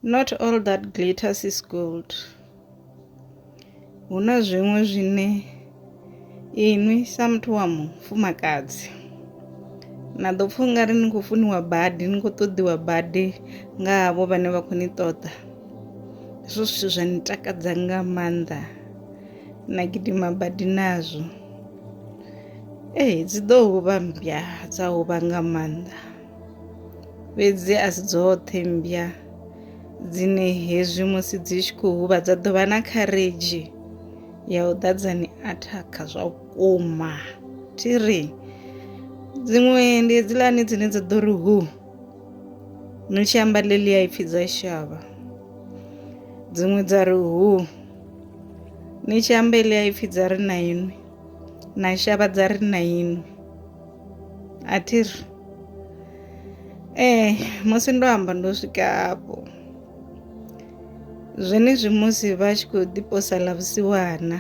Not all that glitters is gold. Hu na zwiṅwe zwine inwi sa muthu wa mufumakadzi na ḓo pfha ungari ni khou funiwa badi ni khou ṱoḓiwa badi nga havho vhane vha khou ni ṱoḓa hezwo zwithu zwa ni takadza nga maanḓa na gidima badi nazwo ee dzi ḓo huvha mmbya dza huvha nga maanḓa fhedzi a si dzoṱhe mmbya dzine hezwi musi dzi tshi khou huvha dza ḓo vha na kharedzhi ya u ḓadza ni athakha zwa vhukuma thi ri dziṅwe ndi hedziḽani dzine dza ḓo ri hu no tshi amba ḽeḽi ya ipfhi dza shavha dziṅwe dza ri hu ni tshi amba ḽi ya ipfhi dza ri na inwi na shavha dza ri na inwi a thi ri ee musi ndo amba ndo swika hafho zwenezwi musi vha tshi khou ḓiposa ḽa vhusiwana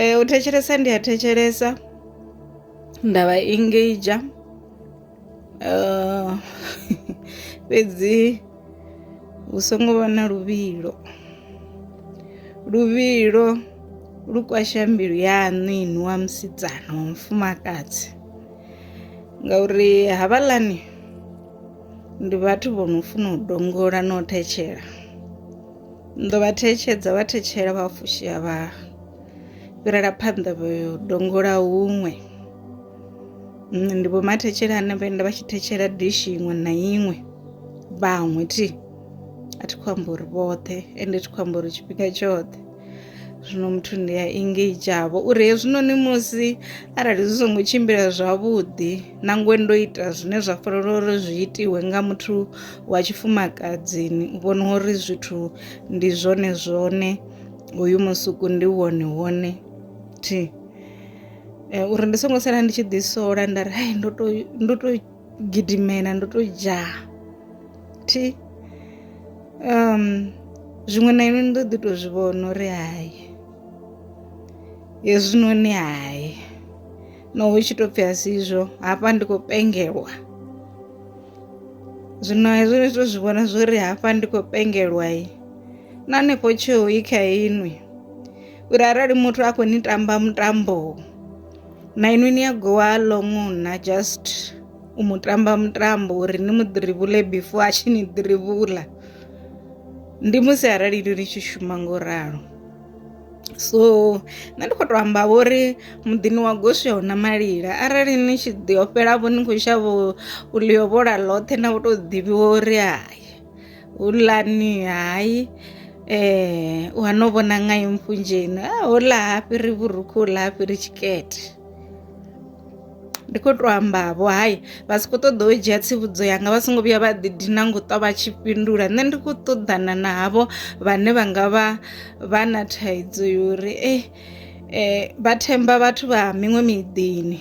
um u thetshelesa ndi a thetshelesa nda vha engage Uh, fhedzi hu songo vha na luvhilo luvhilo lu kwasha mbilu yaṋu inwi wa musidzana wa mufumakadzi ngauri havhaḽani ndi vhathu vho no funa u dongola na u thetshela ni ḓo vha thetshedza vha thetshela vha fushea vha fhirela phanḓa vha yo dongola huṅwe nṋe ndi vhomathetshela ane vha enda vha tshi thetshela dishi iṅwe na iṅwe vhaṅwe thi a thi khou amba uri vhoṱhe ende thi khou amba uri tshifhinga tshoṱhe zwino muthu ndi a engageavho uri hezwinoni musi arali zwi songo tshimbila zwavhuḓi nangwe ndo ita zwine zwa fanela uri zwi itiwe nga muthu wa tshifumakadzini u vhona uri zwithu ndi zwone zwone hoyu musuku ndi wone wone thi eh, uri ndi songo sala ndi tshi ḓisola nda ri hai ndo to ndo to gidimela ndo to dzhaa thi um zwiṅwe na inwe ndo ḓi to zwi vhona uri hai hezwinoni hai no hu tshi to pfhi a si izwo hafha ndi khou pengelwa zwino hezwo ni to zwi vhona zwo ri hafha ndi khou pengelwa i na hanefho tsheo i kha inwi uri arali muthu a khou ni tamba mutambo na inwi ni a gowa long na just u mu tamba mutambo uri ni mu ḓirivhule before a tshi ni ḓirivhula ndi musi arali ni tshi shuma ngo ralo so nṋe ndi khou tou amba vho uri muḓini wa goswi a huna malila arali ni tshi ḓi ofhela vho ni khou shavha u ḽiovhola ḽoṱhe na u tou ḓivhiwa uri hai hulani hayi eh wa no vona nga empfunzheni a ho la ha fhiri vhurukhu la ha fhiri tshikete ndi khou tou ambavho hayi vha si khou ṱoḓa u dzhia tsivhudzo yanga vha songo vhuya vha ḓi dina ngo ṱwa vha tshi fhindula nṋe ndi khou ṱoḓana na havho vhane vha nga vha vha na thaidzo yori eh, eh vha themba vhathu vha miṅwe miḓini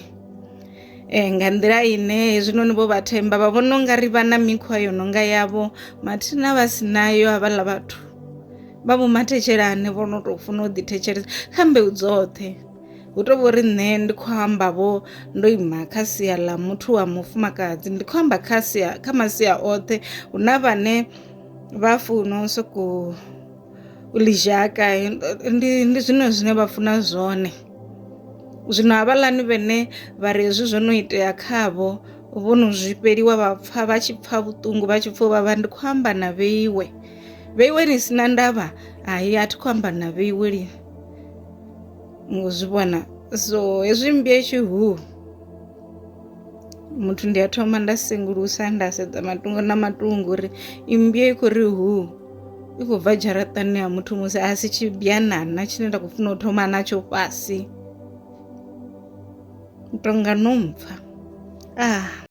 Eh, nga nḓila ine hezwinoni vho vha themba vha vhona ungari vha na mikhwa yo nonga yavho mathina vha si nayo havhaḽa vhathu vha vho mathetshelane vho no tou funa u ḓithetshelesa kha mbeu dzoṱhe hu to vhori nṋe ndi khou amba vho ndo ima kha sia ḽa muthu wa mufumakadzi ndi khou amba kha sia kha masia oṱhe hu na vhane vha funa u sokou ḽizhaka ndi ndi zwine zwine vha funa zwone zwino havhaḽani vhene vha ri hezwi zwo no itea khavho vho no zwi fheliwa vha pfha vha tshi pfha vhuṱungu vha tshi pfha vha vha ndi khou amba na vheiwe vheiwe ni sina ndavha hai a thi khou amba na vheiwe lini ngo zwi vhona so hezwi mmbwa i tshi huu muthu ndi a thoma nda sengulusa nda sedza matungo na matungo uri imbia i khou ri hu i khou bva dzharaṱani ha muthu musi a si tshibianana tshine nda khou funa u thoma natsho fhasi tonga no mpfa ah